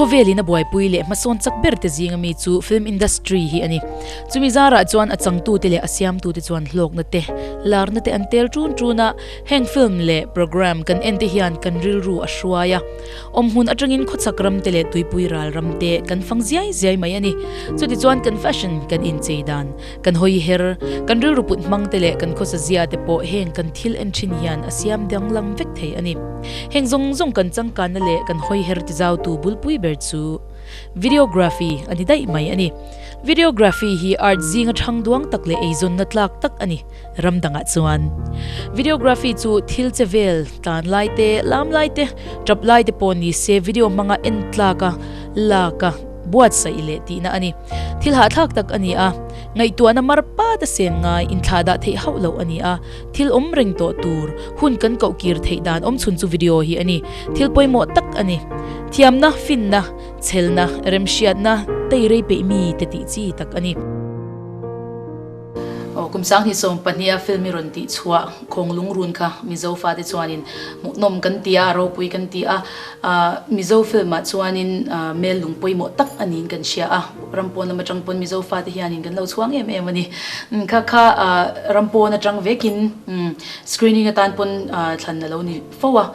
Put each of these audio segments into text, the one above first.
Khawvel in a buaipui leh hmasawn chak ber te zinga mi chu film industry hi a ni. Chumi zarah chuan a changtu te leh a siamtu te chuan hlawkna te, larna te an tel ṭun ṭun a, heng film leh programme kan en te hian kan rilru a hruai a. Awm hun aṭangin khawchhak ram te leh tuipui ral ram te kan fang ziai ziai mai a ni. Chutichuan kan fashion kan inchei dan, Kan hawi her, kan rilru put hmangte leh kan khawsazia te pawh heng kan thil en thin hian a siam danglam vek thei a ni. Heng zawng zawng kan changkanna leh kan hawi her ti zautu bulpui ber chu Videography a ni daih mai a ni. Videography hi art zinga thangduang tak leh eizawnna tlak tak a ni. ram dangah chuan videography chu thil che vel tlan lai te lam lai te tap lai te pawh ni se video hmanga en tlak a lak a buatsaih leh tihna a ni thil hahthlak tak a ni a ngaihtuahna mar pat a sen ngai inthlah dah theih hauh loh a ni a thil awm reng tawh tur hun kan koh kir theih dan awm chhun chu video hi a ni thil pawimawh tak a ni thiamna finna chhelna remhriatna tei rei peih mi te tih chi tak a ni. Aw, kum sang hi sawm pahniha film i rawn tih chhuah. Khawnglung run kha Mizo fate chuanin hmuhnawm kan ti a, ropui kan ti a. Mizo film ah chuanin Mel lung pawimawh tak a niin kan hria a. Ram pawn lam atang pawn Mizo fate hianin kan lo chhuang em em a ni. Kha kha ram pawn atang vekin screening atan pawn thlan a lo ni fo a.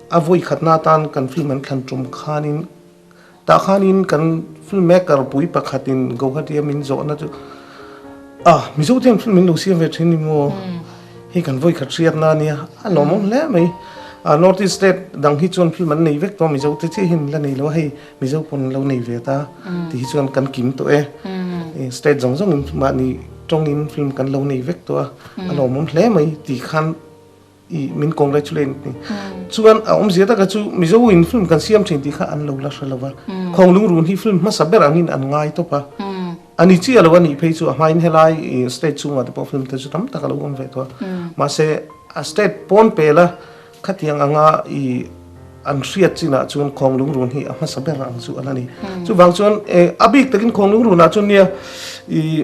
A vawi khatna atan kan film an thlan tum khanin tah khanin kan film maker pui pakhatin Gauhatia min zawhna chu a Mizote hian film min lo siam ve thin emaw hei kan vawi khat hriatna ania a lawmawm hle mai a North East state dang hi chuan film an nei vek tawh a Mizote chiah hi min la nei lo a hei Mizo pawn an lo nei ve ta tih hi chuan kan kim tawh e state zawng zawngin mahni tawngin film kan lo nei vek tawh a a lawmawm hle mai tih khan. I min congratulate ni. Chuan a awm zia taka chu Mizo in film kan siam thin tih kha an lo la hre lo va. Khawnglung run hi film hmasa ber angin an ngai tawp a. A ni chiah lo a nih phei chu a hmain helai state chhungah te pawh film te chu tam tak a lo awm ve tawh a. Mahse a state pawn pel a khatiang anga i an hriat chinah chuan Khawnglung run hi a hmasa ber ang chu a la ni. Chuvang chuan a bik takin Khawnglung runah chuan nia i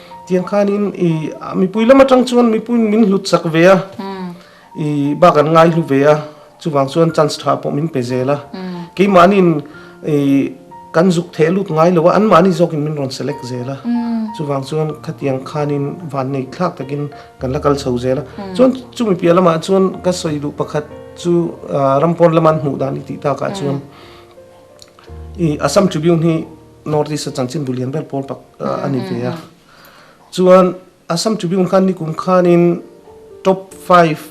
Tiang khanin i mipui lam atang chuan mipuiin min hlut chak ve a, i bak an ngai hlu ve a, chuvang chuan chance tha pawh min pe zel a. Keimahniin i kan zuk theh lut ngai lo a, anmahni zawkin min rawn select zel a, chuvang chuan khatiang khanin vannei thlak takin kan la kal chho zel a. Chuan chumi piah lamah chuan ka sawi duh pakhat chu Rampuan lama an hmuh dan i tih takah chuan i Assam Tribune hi, North East-a chanchinbu lian ber pawl tak a ni ve a. Chuan Assam Tribune khan nikum khanin Top Five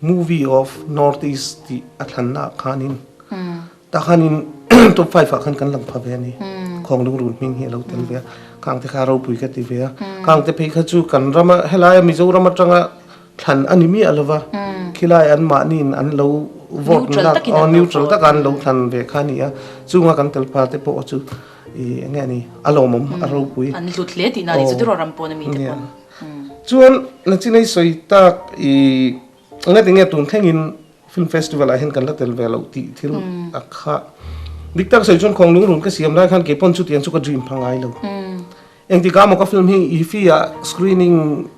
Movie of North East tih a thlannaah khanin tah khanin Top Five-ah khan kan lang pha ve a ni. Khawnglung run hming hi a lo tel ve a. Khangte kha ropui ka ti ve a. Khangte phei kha chu kan rama, helai a Mizoram atanga. Thlan a ni miah lo va, khilai an mahniin an lo vote na ah khan neutral taka an lo thlan ve kha a ni a, chunga kan telpa te pawh chu i eng nge ni a lawmawm a ropui. An hlut hle tihna a ni chu Tiraw ram pawn a mi te pawh. Chuan na chinei sawi tak i nge ti nge tun thlengin film festival ah hian kan la tel ve lo tih thil a khah. Dik tak sawi chuan Khawnglung run ka siam lai khan kei pawn chutiang chu ka dream pha ngai lo. Engti kha Mocha film hi Iffy ah screening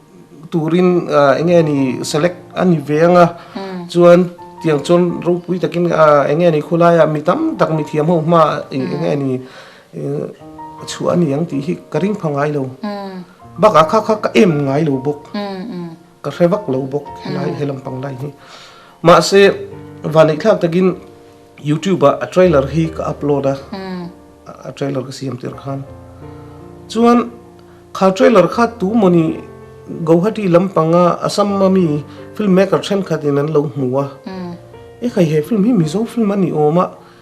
turin eng nge ni select a ni ve anga chuan tiang chuan ropui takin eng nge ni khawlai ah mi tam tak mithiam ho hma eng nge ni a chhuah a ni ang tih hi ka ring pha ngai lo. Bakah kha kha ka em ngai lo bawk. Ka hre vak lo bawk helai he lampang lai hi. Mahse, vaneih thlak takin YouTube ah a trailer hi ka upload a, a trailer ka siam tirh khan. Chuan kha trailer kha tumawni Guwahati lampanga Assam-a mi filmmaker thenkhatin an lo hmu a. E khai he film hi Mizo film a ni awm a,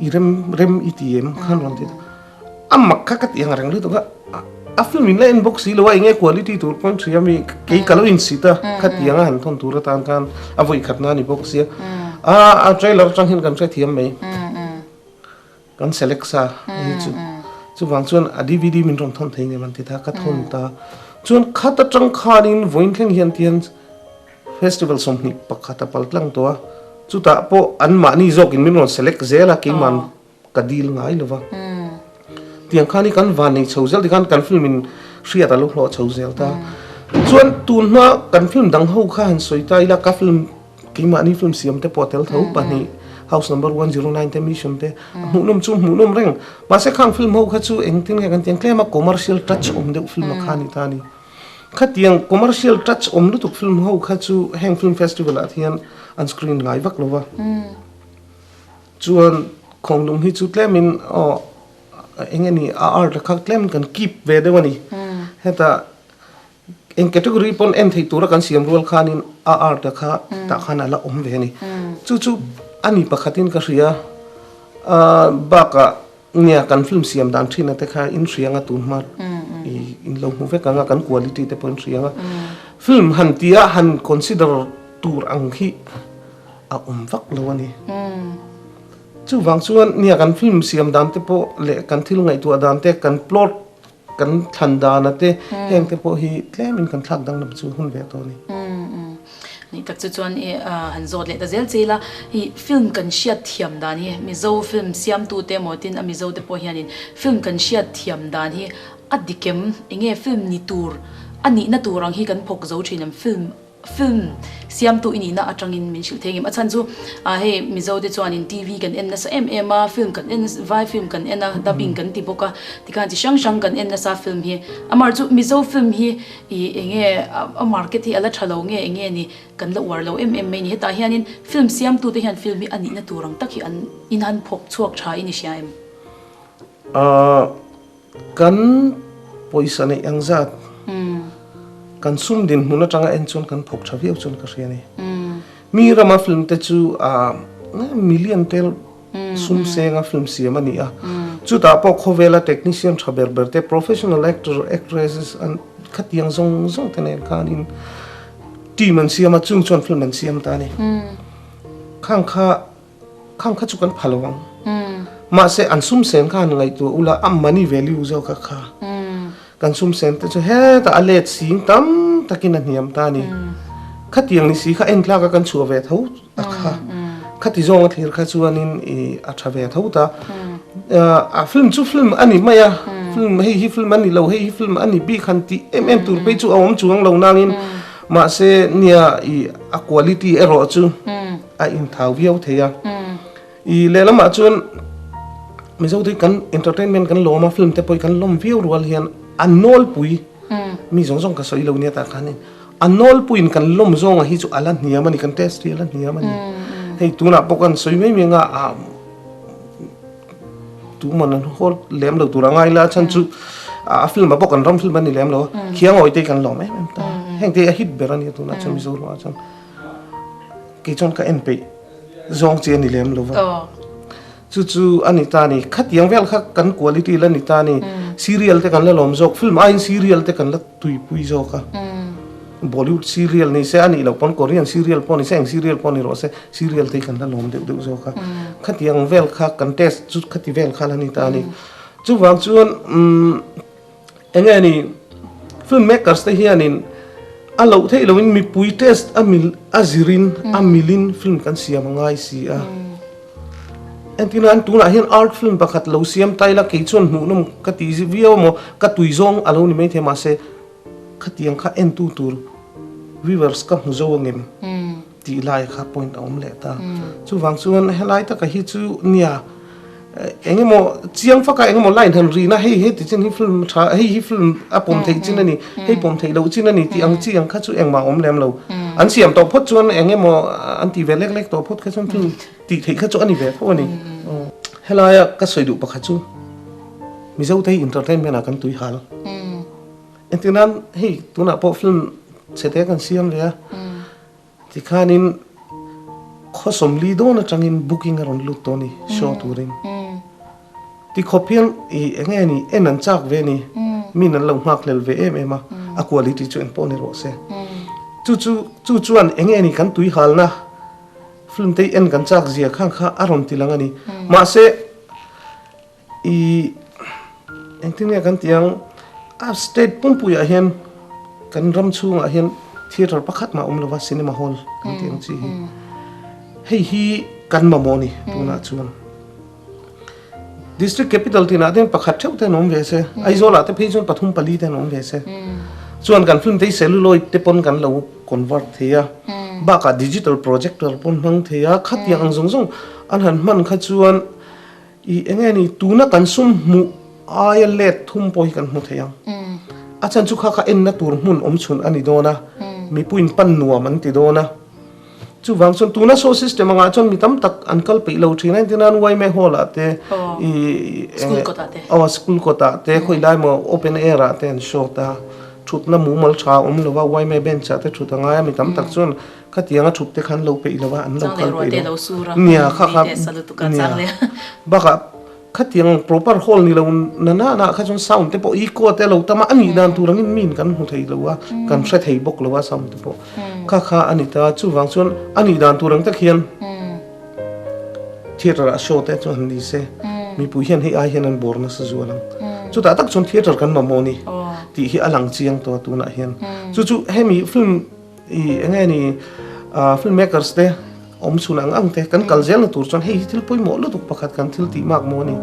I rem rem i ti em khan rawn ti a mak kha ka ti ang a reng lutuk a a film in la en bawk si lo a eng nge quality tur pawn ṭhi ami kei ka lo in si ta kha ti ang a han thawn tur atan khan a vawi khatna a ni bawk si a a trailer aṭang hian kan hrethiam mai. Kan select sa a hi chu. Chuvang chuan a dvd min rawn thawn thei ngei man titha ka thawn ta. Chuan khat atang khanin vawiin thleng hian ti hian festival sawmhnih pakhat a pal tlang tawh a, chutah pawh an mahni zawkin min rawn select zel a, keima'n ka deal ngai lo va. Tiang khan hi kan van nei chho zel tikhan kan film in hriat a lo hlawh chho zel ta. Chuan tunhma kan film dang ho kha han sawi ta ila ka film. Keimah ni film siam te pawh tel tho pahnih, House Number one zero nine te, Mission te, a hmuhnawm chu hmuhnawm reng. Mahse khang film ho kha chu engtin nge kan ti ang tlem a commercial touch awm deuh film a kha ni ta a ni. Khatiang commercial touch awm lutuk film ho kha chu heng film festival ah hian an screen ngai vak lo va. Chuan Khawnglung hi chu tlemin aw eng e ni a art a kha tlemin kan keep ve deuh a ni. Heta. Eng category pawn en theih tura kan siam rual khanin a art a kha tah khan a la awm ve a ni. Chu chu a ni pakhatin ka hria a, bakah nia kan film siam dan thina te kha inhrianga tun hma i in lo hmu vek ang a, kan quality te pawh inhriang a. Film han tia han consider tur ang hi a awm vak lo a ni. Chuvang chuan nia kan film siam dan te pawh leh kan thil ngaihtuah dan te kan plot. Kan thlan dan a te heng te pawh hi tlem in kan thlak dang lam chu hun ve tawh a ni. Nih tak chu chuan i han zawt leh ta zel che ila i film kan hriat thiam dan hi Mizo film siamtu te maw tin a Mizo te pawh hian in film kan hriat thiam dan hi a dikem enge film ni tur a nihna tur ang hi kan phawk zo thin em film Film siamtu i nihna atangin min hrilh thei ngim. A chhan chu a hei Mizo te chuanin TV kan en nasa em em a, film kan en nasa, vai film kan en a, dubbing kan ti bawk a, tikhan chi hrang hrang kan en nasa film hi. Amar chu Mizo film hi i eng nge a market hi a la tha lo nge eng nge ni kan la uar lo em em mai ni. Hetah hianin film siamtu te hian film hi a nihna tur ang tak hi an in han phawk chhuak tha i ni hria em? A Kan pawisa neih ang zat kan sum din hmun atanga en chuan kan phawk tha viau chuan ka hria ni. Mi rama film te chu million tel sum senga film siam a ni a, chutah pawh khawvela technician tha ber ber te, professional actor, actresses an khatiang zawng zawng te nen khanin team an siam a, chung chuan film an siam ta a ni. Khang kha. Khang kha chu kan pha lo ang. Mahse an sumsen kha han ngaihtuah ula a money value zawkah kha kan sumsen te chu hetah a let sing tam takin a hniam ta a ni. Khati ang ni si kha entlak a kan chhuah ve tho tak kha khati zawng a thlir kha chuanin a tha ve tho ta. A film chu film a ni mai a, film hei hi film a ni lo, hei hi film a ni bik han tih em em tur phei chu a awm chuang lo nangin mahse nia a quality erawh chu. A inthau viau thei a. I lehlamah chuan Mizo te kan entertainment kan lawm a, film te pawh i kan lawm viau rual hian a nawlpui, mi zawng zawng ka sawi lo nia tah khanin a nawlpuiin kan lawm zawnga hi chu a la hniam a ni, kan test hi a la hniam a ni. Hei tunah pawh kan sawi mai mai anga ah tuman an haw lem lo tur a ngai la a chhan chu a film-ah pawh kan ram film a ni lem lo a, Khiangawite hi kan lawm em em ta a. Heng te hi a hit ber a nia tunah chuan Mizo rual ah chuan. Kei chuan ka en peih zawng chi a ni lem lova. Chu chu a ni ta ni. Khatiang vel kha kan quality la ni ta ni. Serial te kan la lawm zawk. Film aiin serial te kan la tuipui zawk a. Bollywood serial ni se a nih loh pawn Korean serial pawh ni se eng serial pawh a ni rawh se, serial te kan la lawm deuh deuh zawk a. Khatiang vel kha kan taste chu khati vel kha la ni ta ni. Chuvang chuan umm. Enge ni? Filmmakers te hianin a loh theih loin mipui taste a mil a zirin a milin film kan siam a ngai si a. Engtin a, an tunah hian art film pakhat lo siam ta ila kei chuan hmuhnawm ka ti zi viau a maw, ka tui zawng a lo ni maithei mahse khatiang kha entu tur viewers ka hmu zo angem? Tih lai kha point a awm leh ta. Chuvang chuan helai taka hi chu nia eng emaw chiang faka eng emaw la inhan rihna hei heti chin hi film tha hei hi film a pawm theih chin a ni, hei pawm theih loh chin a ni tih ang chi ang kha chu engmah a awm lem lo. An siam tawh phawt chuan eng emaw an tih ve lek lek tawh phawt kha chuan film tih theih kha chu a ni ve fo a ni. Helaia ka sawi duh pakhat chu Mizote entertainment-ah kan tui hal. Engtin nan hei tunah pawh film chhete kan siam ve a, tikhanin khaw sawmli dawn atangin booking a rawn lut tawh a ni show turin. Ti khawp hian i eng nge ni, en an chak ve a ni, min an lo nghak hlel ve em em a, a quality chu eng pawh a ni rawh se. Chu chu, chu chuan eng nge ni kan tui halna film te en kan chak zia khang kha a rawn ti lang a ni. Mahse. I engtin nge kan tih ang a state pumpuii ah hian kan ram chhung ah hian theatre pakhat mah awm lova cinema hall kan tih ang chi hi hei hi kan mamawh a ni tun ah chuan district capital tih nahte hian pakhat theuh te an awm ve se Aizawl ah te phei chuan pathum pali te an awm ve se chuan kan film te hi celluloid te pawn kan lo convert thei a bak ah digital projector pawn hmang thei a khatiang ang zawng zawng an han hman kha chuan I enge ni? Tuna kan sum hmuh aia let thum pawh hi kan hmu thei ang. A chhan chu kha kha enna tur hmun awm chhun a ni dawn a, mipuiin pan nuam an ti dawn a. Chuvang chuan tuna saw system angah chuan mi tam tak an kal peih lo thin a, engtin a'n YMA Hall ah te, aw school kawtah te, khawi lai maw open air ah te an show ta, thutna mumal tha a awm lo va, YMA Bench ah te thut a ngai a, mi tam tak chuan Khatianga thup te khan lo peih lo a, an lo kal peih lo a, nia kha kha nia bakah khatiang proper hall ni lo na na na kha chuan sound te pawh echo te a lo tam a, a nih dan tur ang in min kan hmu thei lo a, kan hre thei bawk lo a sound te pawh kha kha a ni ta, chuvang chuan a nih dan tur ang tak hian theater-ah show te chuan han ni se, mipui hian hei ai hian an bawr nasa zual ang, chutah tak chuan theater kan mamawh a ni tih hi a lang chiang tawh a tunah hian, chu chu hemi film. I eng nge ni ah film makers te awm chhun ang ang te kan kal zel na tur chuan hei hi thil pawimawh lutuk pakhat kan thil tih mak maw ni.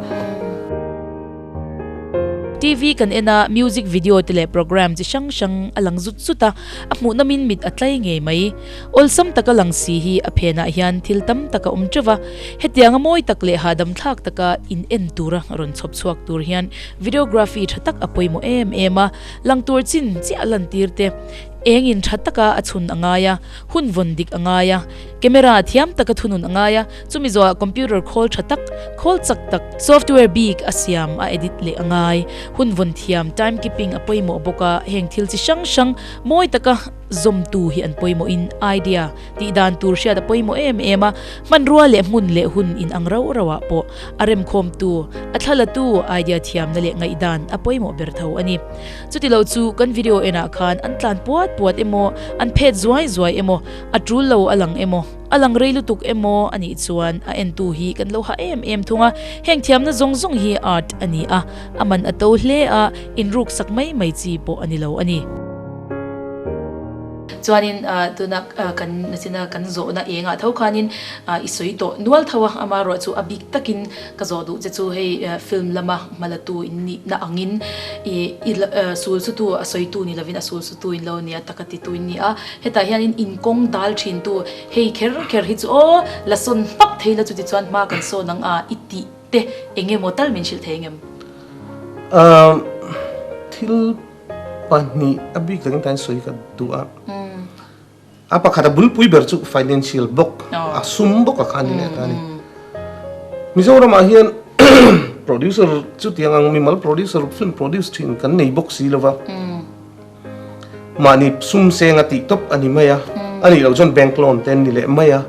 TV kan en a music video te leh programme chi hrang hrang a lang zut zut a, a hmuh na min mit a tlai ngei mai. Awlsam taka lang si hi a phen ah hian thil tam tak a awm teuh va, hetianga mawi tak leh hahdam thlak taka in en tur a rawn chhawp chhuak tur hian videography tha tak a pawimawh em em a, lang tur chin chiah a lantir te, Engin tha taka a chhun a ngai a, hun vawn dik a ngai a, camera thiam taka thunun a ngai a, chumi zawha computer khawl tha tak, khawl chak tak, software bik a siam a edit leh a ngai, hun vawn thiam, time keeping, a pawimawh bawk a, heng thil chi hrang hrang mawi taka zawmtu hi an pawimawhin idea tih dan tur hriat a pawimawh em em a, hmanrua leh hmun leh hun in ang rauh rauh ah pawh a remkhawmtu, a thlalatu idea thiamna leh ngaihdan a pawimawh ber tho a ni. Chuti lo chu kan video en ah khan an tlan puat puat emaw, an phet zuai zuai emaw, a tul lo a lang emaw, a lang rei lutuk emaw a nih chuan a en tu hi kan lo hah em em thung a, heng thiamna zawng zawng hi art a ni a, a man a to hle a, in ruk sak mai mai chi pawh a ni lo a ni. Chuanin tuna kan nachina kan zawhna eng ah tho khanin i sawi tawh nual tho a, amah ruah chu a bik tak in, Ka zawh duh che chu hei film lama hma la tu in nih na angin i i sul chu tu a sawi tu ni lovin a sul chu tu in lo nia taka ti tu in ni a. Hetah hianin in kawng dal thin tu hei kher kher hi chu aw la sawn hmak thei la chuti chuan hma kan sawn ang a i tih te eng emaw tal min hrilh thei ang em? Umm thil pahnih a bik dakin ka insawi ka duh a. A pakhat a bul pui ber chu financial bawk a sum bawk a kha ni leh ta a ni. Mizoram ah hian producer chutiang ang mimal producer ruk chuan produce thin kan nei bawk si lova mahni sum seng a tih tawp a ni mai a, a nih loh chuan bank loan te an ni leh mai a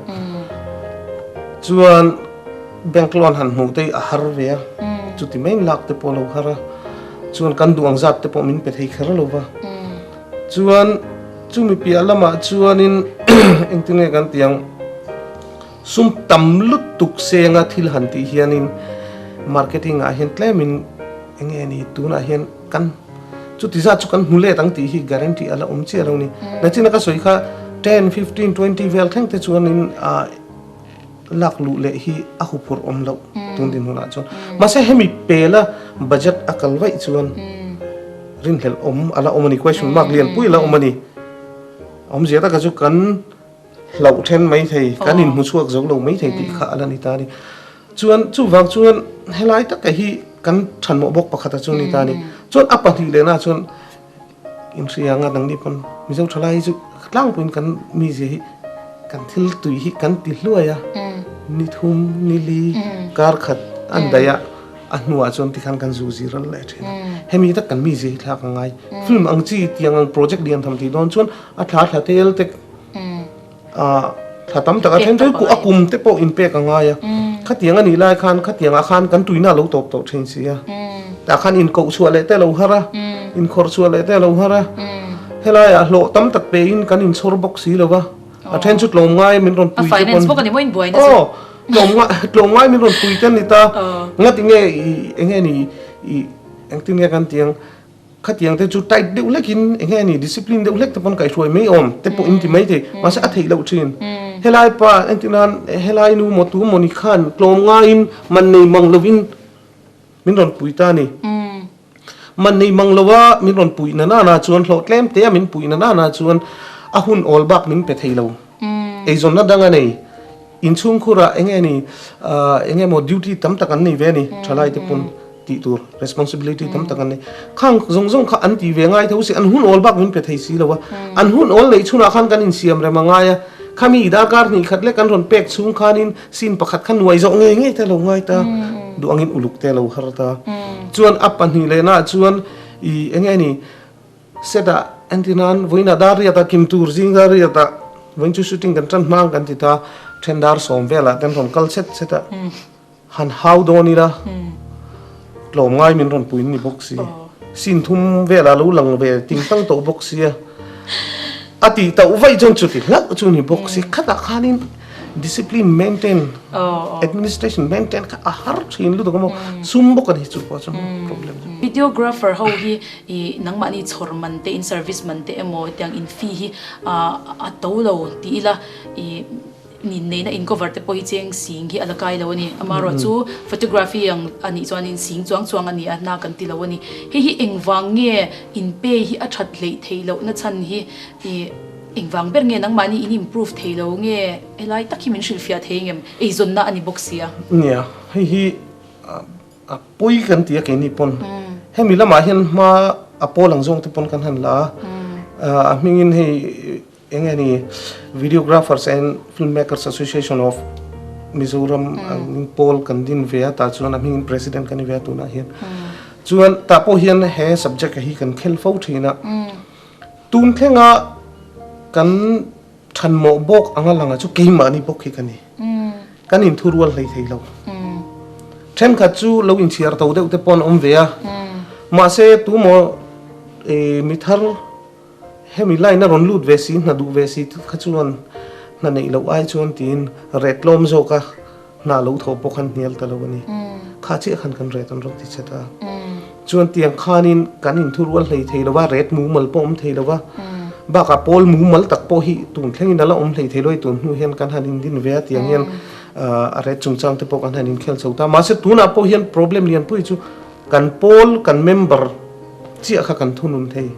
chuan bank loan han hmuh te hi a har ve a chuti mai lak te pawh a lo har a chuan kan duh ang zat te pawh min pe thei kher lova. Chuan chumi piah lamah chuanin engtin nge kan tih ang, sum tam lutuk senga thil han tih hianin marketing ah hian tlemin enge ni tunah hian kan chuti zat chu kan hmu let ang tih hi guarantee ala awm chiah lo ni. Nachina ka sawi kha ten, fifteen, twenty vel thleng te chuanin Lak luh leh hi a huphurh awm loh tun din hunah chuan. Mahse hemi pela budget a kal vaih chuan rinhlelh awm a la awm a ni, question mark lian pui a la awm a ni. Awmzia taka chu kan hlauh then mai thei, kan inhmuchhuak zo lo mai thei tih kha a la ni ta a ni. Chuan chuvang chuan helai taka hi kan ṭhanmawh bawk pakhata chu a ni ta a ni. Chuan a pahnih lehnaah chuan. Kan hria anga dang ni pawn Mizo tha lai hi chu tlangpuiin kan mizia hi kan thil tui hi kan ti hluai a, ni thum ni li kar khat an daih a, a hnuah chuan tikhan kan zu zir ral leh thin a, hemi tak kan mizia hi thlak a ngai film ang chi tiang ang project lian tham tih dawn chuan a thla thla tel tek. Ah, thla tam tak a then chu a kum te pawh inpek a ngai a. Khatiang a nih lai khan khatiang ah khan kan tuihna lo tawp tawh thin si a. Tah khan inkoh chhuah leh te lo har a, inkhawrh chhuah leh te lo har a. Helai ah hlawh tam tak pe in kan inchhawr bawk si lo va. A then chu tlawm ngai min rawn pui te pawh a ni. Aw, tlawm ngai, tlawm ngai min rawn pui te a ni ta. Ngatinge i enge ni i engtin nge kan ti ang. Khatiang te chu tight deuh hlek in eng nge ani discipline deuh hlek te pawn kai hruai mai awm te pawh in ti mai thei mahse a theih loh thin helai pa entir nan helai nu maw tu maw ni khan tlawm ngai in man nei mang lo in min rawn pui ta ni man nei mang lo a min rawn pui na nan ah chuan hlawh tlem te a min pui na nan ah chuan a hun awl bak min pe thei lo eizawn a dang a nei in chhungkhur ah eng nge ni eng nge maw duty tam tak an nei ve ani thalai te pawn. Tih tur responsibility tam tak an nei. Khang zawng zawng kha an ti ve ngai tho si, an hun awl bak min pe thei si lo a. An hun awl neih chhunah khan kan insiam rem a ngai a. Khami i darkar hnih khat leh kan rawn pek chhung khanin scene pakhat kha nuai zawh ngei ngei te a lo ngai ta, duh angin uluk te a lo har ta. Chuan a pahnih lehnaah chuan i eng nge ni, set ah entina'n vawiinah dar riat a, kim tur zing dar riat ah vawiin chu shooting kan tan hmang kan ti ta, then dar sawm velah kan rawn kal set set a. Han hau dawn ila tlawm ngai min rawn pui ni bawk si. Scene thum velah lo lang ve ting tang tawh bawk sia, a tih tauh vaih chuan chuti hlauh chu ni bawk si. Khatah khanin discipline maintain, administration maintain kha a har thin lutuk a maw, sum bawk a ni chu pawh chuan problem chu. Videographer ho hi i nangmahni chhawr man te in service man te emaw tiang in fee hi a to lo ti ila i. Nih neihna in cover te pawh hi cheng sing hi a la kai lo a ni. Amah ruah chu photography ang a nih chuan in sing chuang chuang a ni a hna kan ti lo a ni. Hei hi engvang nge in pe hi a that hleih theih loh na chhan hi i engvang ber nge nangmah ni in improve theih lo nge he lai tak hi min hrilh fiah thei ngem? Eizawn na a ni bawk sia. Nia, hei hi a pawi kan ti a keini pawn. Hemi lamah hian hma a pawl ang zawng te pawn kan han la a. A hming in hei Eng nge ni Videographers and Filmmakers Association of Mizoram min pawl kan din ve a tah chuan a hming in president ka ni ve a tunah hian chuan tah pawh hian he subject hi kan khelh fo thin a tun thlenga kan than mawh bawk anga langa chu keimahni bawk hi ka ni kan in thu rual hlei theilo thenkhat chu lo in chhiar tho deuh te pawh an awm ve a mahse tumaw mithar Hemi line a rawn lut ve si, hna duh ve si kha chuan hna neih loh ai chuan tiin ret lawm zawk a, hna lo thaw pawh khan hnial ta lo a ni. Kha chiah khan kan ret an rawn ti chhat a. Chuan tiang khanin kan in thu rual hlei thei lo va, ret mumal pawh awm thei lo va. Bakah pawl mumal tak pawh hi tun thlengin a la awm hlei thei lo a, tun hnu hian kan han indin ve a, tiang hian a ret chungchang te pawh kan han inkhel chho ta. Mahse tunah pawh hian problem lianpui chu Kan pawl, kan member chiah kha kan thunun thei.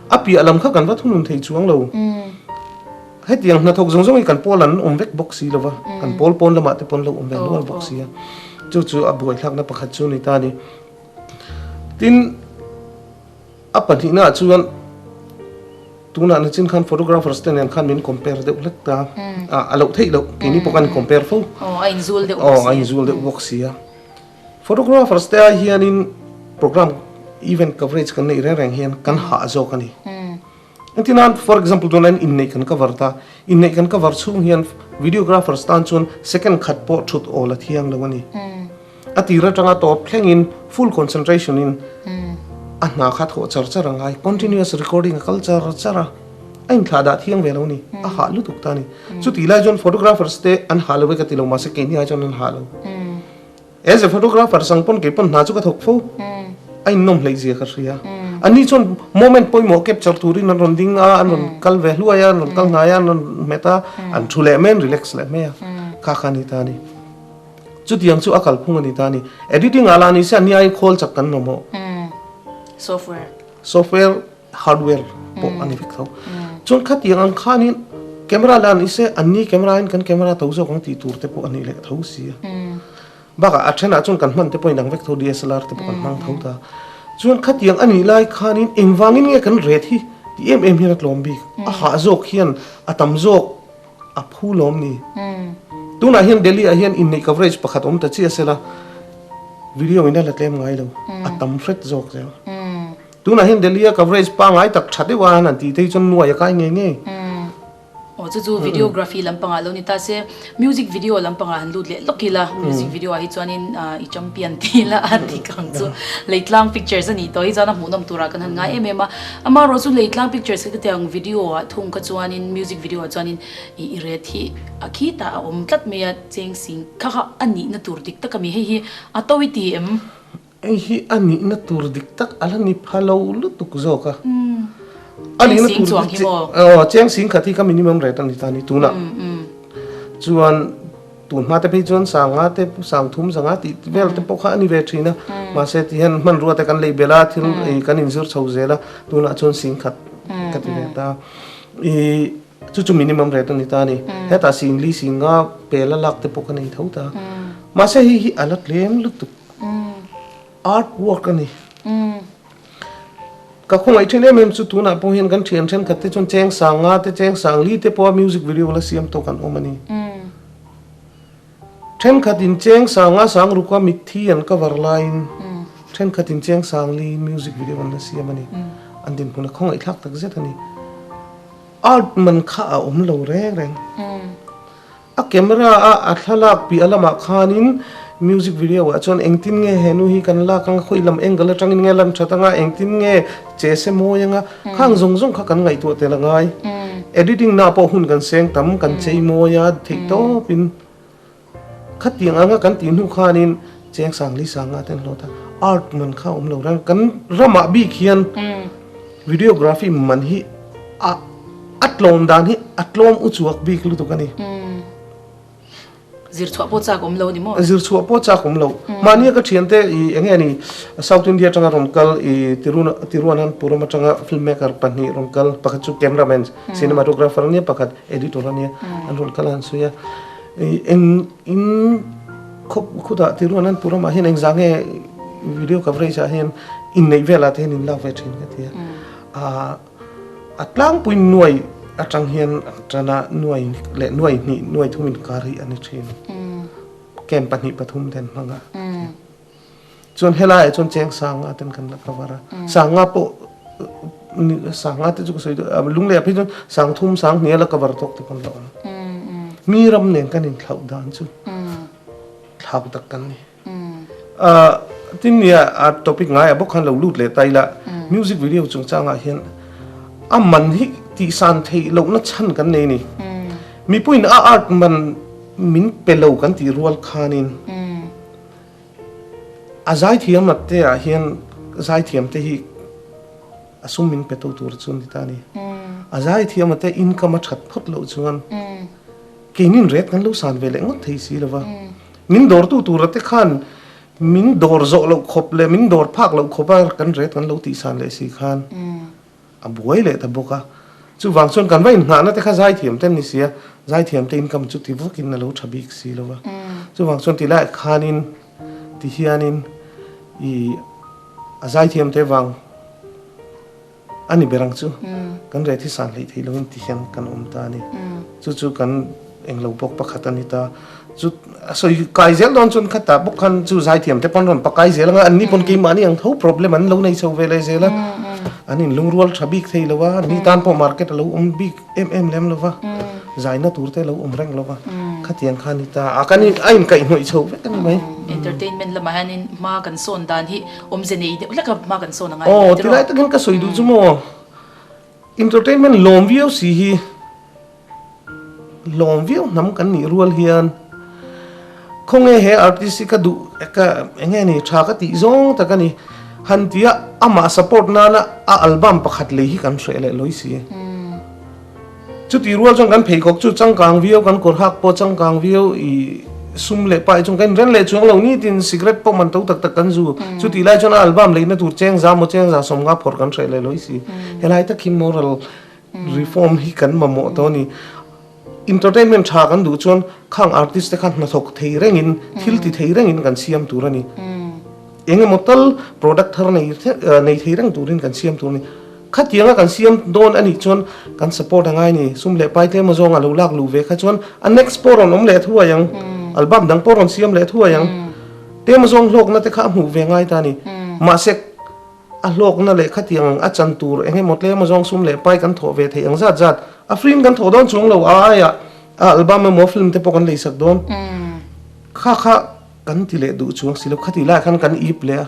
A piah lam kha kan va thunun thei chuang lo. Hetiang hna thawk zawng zawng hi kan pawl an awm vek bawk si lo va, kan pawl pawn lamah te pawn lo awm ve nual bawk si a. Chu chu a buaithlakna pakhat chu a ni ta ni. Tin, a pahnihna ah chuan tunah na chin khan photographers te nen khan min compare deuh hlek ta a. A loh theih loh, keini pawh khan an compare fo. Aw, a inzul deuh bawk si a. Photographers te ai hianin program event coverage kan neih reng reng hian kan hah zawk a ni. Engtin a, for example tunah hian inneih kan cover ta, inneih kan cover chhung hian videographers tan chuan second khat pawh thut awl a thiang lo a ni. A tir atanga tawp thlengin full concentration in a hna kha thawh char char a ngai, continuous recording a kal char char a, a inthlah dah thiang ve lo a ni, a hah lutuk ta a ni. Chutih lai chuan photographers te an hah lo ve ka ti lo, mahse keini ai chuan an hah lo. Eze photographer sang pawn kei pawn hna chu ka thawk fo a innawm hleih zia ka hria ani chuan moment pawimawh capture turin an rawn ding a an rawn kal ve hluai a an rawn kal hnai a an rawn hmet a an thu leh mai a an relax leh mai a kha kha ani ta a ni chutiang chu a kalphung ani ta a ni editing ah lah nise a nia in khawl chak kan mamawh software software Hardware pawh a ni vek tho. Chuan khatiang ang khanin camera leh a ni se, an ni camera in kan camera tho zawk ang tih tur te pawh a nih leh tho si a. Bakah a then ah chuan kan hman te pawh a inang vek tho, DSLR te pawh kan hmang tho ta. Chuan khatiang a nih lai khanin engvang in nge kan ret hi ti em em hian a tlawm bik. A hah zawk hian a tam zawk a phu lawm ni. Tunah hian Delhi ah hian inneih coverage pakhat awm ta chiah se la video in a la tlem ngai lo, a tam hret zawk zel. Tunah hian Delhi a coverage pangai tak tha deuh a, an han tih te hi chuan nuai a kai ngei ngei. Umm. Aw chu chu videography lampangah lo ni ta se, music video lampangah han lut leh lawk ila, music video ah hi chuanin ahh i champion tih ila a dik ang chu. Leitlang pictures a nih tawh hi chuan a hmuh nawm turah kan han ngai em em a. Amaherawh chu Leitlang pictures ka tiang video ah thung kha chuanin music video ah chuanin i i ret hi a khi ta a awm tlat mai a, cheng sing kha kha a nihna tur dik tak a mi hei hi a to i ti em? Hei hi a nihna tur dik tak a la ni pha lo lutuk zawk a. A nihna tur dik tak a la ni pha lo lutuk zawk a. Cheng sing chuang hi maw? Aw, cheng sing khat hi ka minimum rate a ni ta ni. Tunah chuan tun hma te phei chuan sang nga te, sang thum za nga tih vel te pawh kha a ni ve thin a. Mahse ti hian hmanrua te kan lei belh a, thil kan in zir chho zel a, tunah chuan sing khat ka ti ve ta. I chu chu minimum rate a ni ta ni. Hetah sing li, sing nga pel a lak te pawh ka nei tho ta. Mahse hei hi a la tlem lutuk. Art work a ni. Ka khawngaih thin em em chu tunah pawh hian kan thian thenkhat te chuan cheng sang nga te cheng sang li te pawha music video la siam tawk an awm a ni. Thenkhat in cheng sang nga sang ruka mitthi an cover laiin thenkhat in cheng sang li in music video an la siam a ni. An dinhmun a khawngaih thlak tak zet a ni. Art man kha a awm lo reng reng. A camera a a thlalak piah lamah khanin music video ah chuan engtin nge he nu hi kan lak anga khawi lam angle atangin nge a lan that anga engtin nge che se mawi anga khang zawng zawng kha kan ngaihtuah tel a ngai. Editing na pawh hun kan seng tam kan chei mawi a theih tawpin khatiang anga kan tih hnu khanin Cheng sang li sang a ten hlawt a art man kha awm lo rang kan ramah bik hian videography man hi a a tlawm dan hi a tlawm u chuak bik lutuk a ni zir chhuah pawh chak awm lo ni maw zir chhuah pawh chak awm lo mahni ka thian te i eng nge ni south india atanga rawn kal i tiruna tiruanan puram atanga film maker pahnih rawn kal pakhat chu camera man cinematographer ania pakhat editor ania an rawn kal a an sawi a i eng in Khawp khutah ti rual an puh lamah hian engzah nge video coverage ah hian inneih velah te hian in lak ve thin ka ti a. A tlangpui nuai atang hian tana nuai leh nuai hnih nuai thum inkar hi a ni thin. Camp pahnih pathum ten hmanga ka ti a. Chuan helaiah chuan cheng sangha ten kan la cover a, sangha pawh sangha te chu ka sawi daih a, lung leh a phei chuan sangthum sanghnih a la cover tawk te pawh an la awm a, mi ram nen kan in thlauh dan chu thlau tak kan ni a, tin nia a topic ngaiah bawk khan lo lut leh ta ila music video chungchangah hian a man hi tihsan theih lohna chhan kan nei ni, mipuiin a art man min pe lo kan tih rual khanin. A zaithiam lakte ah hian zaithiam te hi a sum min pe tu tur chu ni ta ni. A zaithiam a te income a that phawt loh chuan keinin ret kan lo san ve leh ngawt thei si lo va. Min dawr tu tur a te khan min dawr zawh loh khawp leh min dawr phak loh khawp a kan ret kan lo tih san leh si khan A buai leh ta bawk a. Chuvang chuan kan va inhnahna te kha zaithiam ten ni si a, zaithiam te income chu ti vakin a lo tha bik si lo va. Chuvang chuan ti laiah khanin ti hianin ii a zaithiam te vang a ni ber ang chu kan reh thisan hlei thei lovin ti hian kan awm ta a ni. Chu chu kan. Englo bawk pakhat a ni ta. Chu a sawi kai zel dawn chuan kha tah bawk khan chu zaithiam te pawn rawn pakai zel ang a, an ni pawn keimahni ang tho problem an lo nei chho ve leh zel a, an inlungrual tha bik thei lo a, an ni tan pawh market a lo awm bik em em lem lo va, zaina tur te a lo awm reng lo va, khatiang kha a ni ta. A kan a inkaih hnawih chho vek a ni mai. Entertainment lamah hianin hma kan sawn dan hi awmze nei deuh hleka hma kan sawn a ngai leh tel a. Aw, tilai takin ka sawi duh chu maw, entertainment lawmvio si hi Hlawm viau hnam kan nih rual hian khawnge he artist hi ka duh ka enge ni tha ka tih zawng tak a ni. Han tia amah support nana a album pakhat lei hi kan hreh leh lawi si. Chuti rual chuan kan pheikhawk chu changkang viau kan kawr hak pawh changkang viau i sum leh pai chung ka inren leh chuang lo nitin cigarette pawh man to tak tak kan zu. Chuti lai chuan a album leihna tur cheng za maw cheng za sawm nga phawrh kan hreh leh lawi si. Helai tak hi moral Reform hi kan mamawh tawh a ni. Entertainment tha kan duh chuan khang artist te khan hnathawk thei rengin, thil ti thei rengin kan siam tur a ni. Eng emaw tal product thar nei nei thei reng turin kan siam tur a ni. Khatianga kan siam dawn a nih chuan kan support a ngai a ni. Sum leh pai tlem azawng a lo lak luh ve kha chuan a next pawh a rawn awm leh a thuai ang. Album dang pawh a rawn siam leh a thuai ang. Tlem azawng hlawkna te kha a hmuh ve ngai ta a ni. Mahse. A hlawkna leh khatiang ang a chan tur eng emaw tlem azawng sum leh pai kan thawh ve thei ang zat zat. A frame kan thawh dawn chuang lo a aiah a album emaw film te pawh kan lei sak dawn kha kha kan ti leh duh chuang si lo. Khati laiah khan kan ip leh a,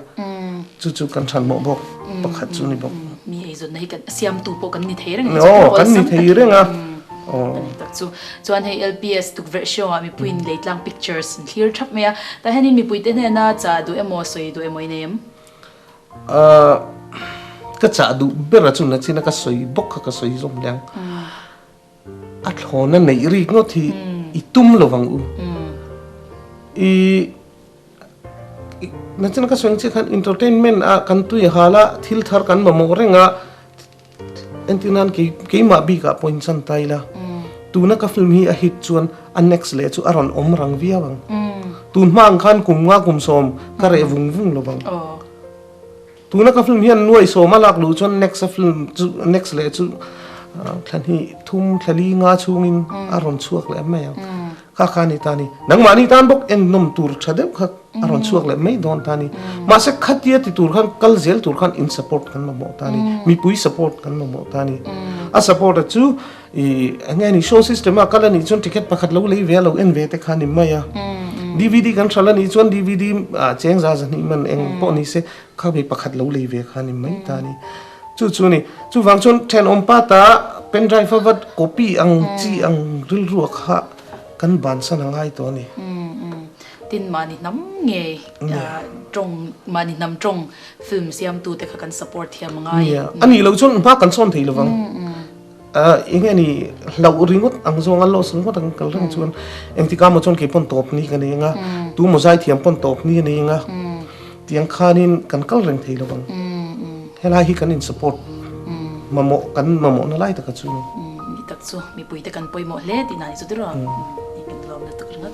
chu chu kan hranhmawh bawk pakhat chu ni bawk. Mi eizawnna hi kan a siamtu pawh kan ni thei reng a ni chu, kan ni thei reng a ni tak chu. Chuan hei LPS tukverh hriamah mipuiin lei tlang pictures an thlir thap mai a, tah hianin mipuite hnena chah duh emaw sawi duh emaw i nei em? Ahh, ka chah duh ber a chun a chin a, ka sawi bawk kha ka sawi zawm liang. A thlawn a neih rik ngawt hi i tum lo vang u. I na chin a ka sawi ang chiah khan entertainment ah kan tuihal a, thil thar kan mamawh reng a. Entir nan kei keimah bik ah pawhin chan ta ila. Tuna ka film hi a hit chuan a next leh chu a rawn awm rang viau ang. Tunhma ang khan kum nga kum sawm ka reh vung vung lo vang. Tuna ka film hian nuai sawm a lak luh chuan next a film chu next leh chu thlahnih thum thlali nga chhungin a rawn chhuak leh mai ang. Ka ka nih ta ni. Nangmah nih tan bawk en nawm tur tha deuh kha a rawn chhuak leh mai dawn ta ni. Mahse khatia ti tur khan kal zel tur khan in support kan mamawh ta ni. Mipui support kan mamawh ta ni. A support a chu i enge ni sound system a kal a nih chuan ticket pakhat lo lei ve a lo en ve te khan i mai a. Dvd kan hral a nih chuan dvd cheng za zahnih man eng pawh ni se kha mi pakhat lo lei ve khan i mai ta ni. Chu chu ni. Chuvang chuan thenawm pata pen drive a vat copy ang chi ang rilru a kha kan ban san a ngai tawh a ni. Tin mahni hnam ngei tawng mahni hnam tawng film siamtute kha kan support thiam a ngai. Nia. A nih loh chuan hma kan sawn thei lovang. Ah eng ani hlauh ringawt ang zawnga loss ringawt ang kal reng chuan engtika maw chuan kei pawn tawp hnik a nei anga tu maw zai thiam pawn tawp hnik a nei anga tiang khanin kan kal reng thei lovang helai hi kan in support mamawh kan mamawhna lai taka chu mi tak chu mipuite kan pawimawh hle tih na ni chu tirh a nih kan lawm lutuk ringawt.